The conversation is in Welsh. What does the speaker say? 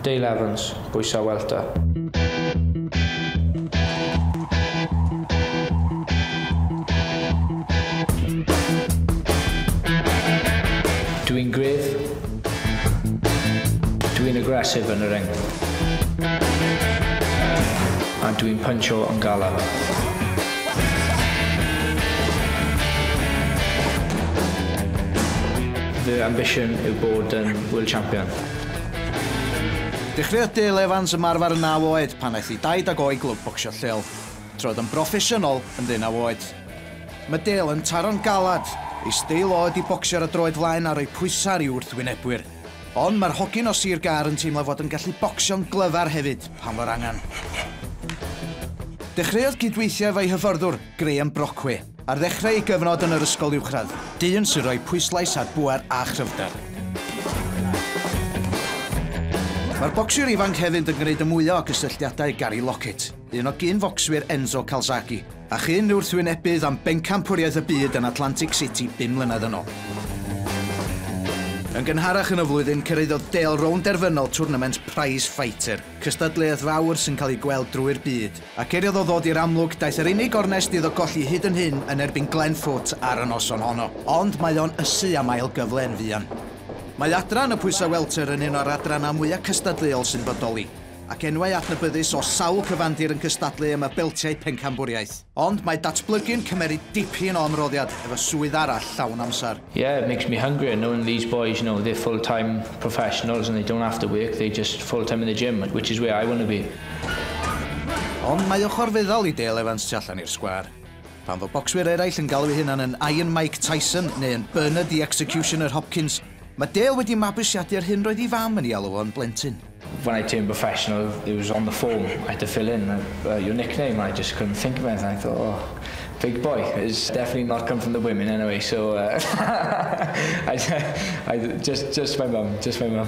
Dale Evans, bwysau welter. Dw i'n gryf. Dw i'n aggressive yn y ring. A dw i'n puncho yn galad. Fy ambition yw bod yn Hwyl Champion! Dechreuodd Dale Evans ymarfer yn naw oed pan aeth i daid ag o i glwb bocsio lleol. Troed yn broffesiynol yn ddeunaw oed. Mae Dale yn taro'n galed, ei steil o ydi bocsio ar y droed flaen a rhoi pwysau ar ei wrthwynebwyr. Ond mae'r hogyn o Sir Gâr yn teimlo fod yn gallu bocsio'n glyfar hefyd pan fo'r angen. Dechreuodd gydweithio efo'i hyfforddwr, Graham Brockway. Ar ddechrau ei gyfnod yn yr ysgol uwchradd, dyn sy'n rhoi pwyslais ar bŵer a chryfder. Mae'r bocsiwr ifanc hefyd yn gwneud y mwyaf o gysylltiadau Gary Lockett, un o gyn-focswyr Enzo Calzaghe, a chyn wrthwynebydd am bencampwriaeth y byd yn Atlantic City bum mlynedd yn ôl. Yn gynharach yn y flwyddyn, cyrhaeddodd Dale rownd derfynol twrnament Prize Fighter, cystadleuaeth fawr sy'n cael ei gweld drwy'r byd. Ac er iddo ddod i'r amlwg, daeth yr unig ornest iddo golli hyd yn hyn yn erbyn Glenn Foot ar y noson honno. Ond mae o'n ysu am ail gyfle yn fuan. Mae adran y pwysau welter yn un o'r adrannau mwya' cystadleuol sy'n bodoli, ac enwau adnabyddus o sawl cyfandir yn cystadlu am y beltiau pencampwriaeth. Ond mae datblygu'n cymeryd dipyn o ymroddiad efo swydd arall llawn amser. Yeah, it makes me hungrier knowing these boys, you know, they're full-time professionals and they don't have to work, they're just full-time in the gym, which is where I want to be. Ond mae ochr feddal i Dale Evans tu allan i'r sgwâr. Pan fo bocswyr eraill yn galw eu hunan yn Iron Mike Tyson neu yn Bernard the Executioner Hopkins, mae Dale wedi mabwysiadu yr hyn roedd ei fam yn ei alw fo'n blentyn. When I turned professional, it was on the form I had to fill in your nickname and I just couldn't think of anything, I thought, oh, big boy, it's definitely not come from the women anyway, so I just, just my mum, just my mum.